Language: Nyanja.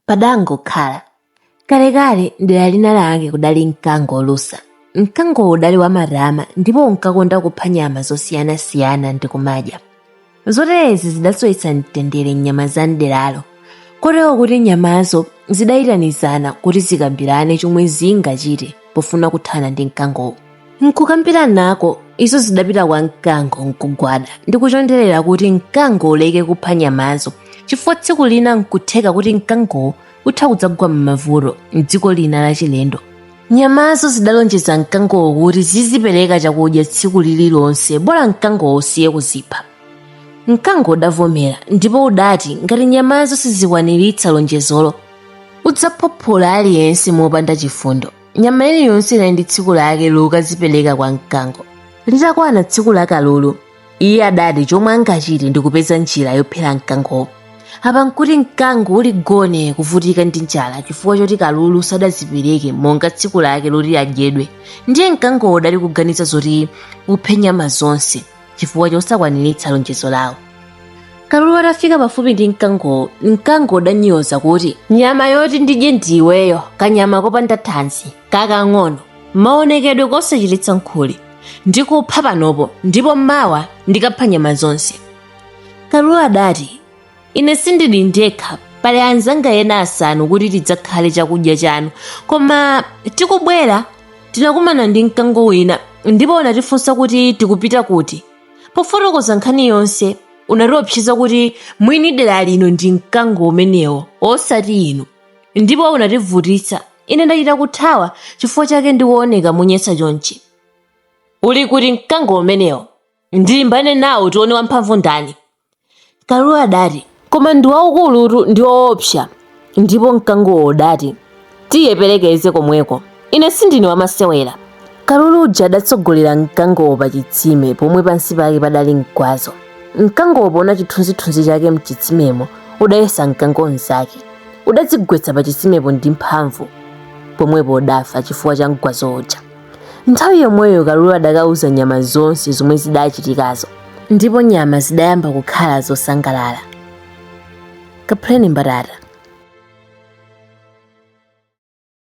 padangokhala kalekale mdera lina lake kudali mkango olusa mkangowo udali wamatama ndipo unkakonda kupha nyama zosiyanasiyana ndi kumadya zoterezi zidasowetsa mtendere nyama za mderalo kotero kuti nyamazo zidayitanizana kuti zikambirane chomwe zingachite pofuna kuthana ndi mkangowo nkukambiranako izo zidapita kwa mkango nkugwada ndi kuchonderera kuti mkango uleke kupha nyamazo chifukwa tsiku lina nkutheka kuti mkangowo utha kudzagwa m'mavuto mdziko lina lachilendo nyamazo zidalonjeza mkangowo kuti zizipereka chakudya tsiku lililonse bola mkangowo usiye kuzipha mkango udavomera ndipo udati ngati nyamazo sizikwaniritsa lonjezolo udzaphophola aliyense mopanda chifundo nyama iliyonse inali ndi tsiku lake lokazipereka kwa mkango litakwana tsiku la kalulu iye adati chomwe angachite ndi kupeza njira yophera mkangowo apa nkuti mkango uli gone kuvutika ndi njala chifukwa choti kalulu sadazipereke monga tsiku lake loti adyedwe ndiye mkangowo udali kuganiza zoti uphe nyama zonse chifukwa chosakwaniritsa lonjezo lawo kalulu atafika pafupi ndi mkangowo mkango udanyoza kuti nyama yoti ndidye ndiweyo kanyama kopanda thanzi kakang'ono maonekedwe kosachititsa nkhuli ndikupha panopo ndipo mawa ndikapha nyama zonse kalulu adati Ine sindili ndekha, pali anzanga ena asanu kuti tidzakhale chakudya chanu. Koma tikubwera, tinakumana ndi mkango wina ndipo unatifunsa kuti tikupita kuti. Pofotokoza nkhani yonse, unatiopseza kuti mwini dera lino ndi mkango umenewo, osati inu. Ndipo unativutitsa. Ine ndachita kuthawa, chifukwa chake ndikuoneka monyasa chonchi. Uli kuti mkango umenewo? Ndilimbane nawo tione wamphamvu ndani. Kalulu adati, Koma ndi waukulutu ndi woopsa. Ndipo Mkangowo udati, Tiye ndiperekeze komweko. Ine sindine wamasewera. Kalulu uja adatsogolera Mkangowo pa chitsime pomwe pansi pake padali mgwazo. Mkangowo poona chithunzithunzi chake m'chitsimemo, udayesa Mkango mnzake. Udadzigwetsa pa chitsimepo ndi mphamvu. Pomwepo udafa chifukwa cha mgwazo uja. nthawi yomweyo kalulu adakauza nyama zonse zomwe zidachitikazo ndipo nyama zidayamba kukhala zosangalala kaphuleni mbatata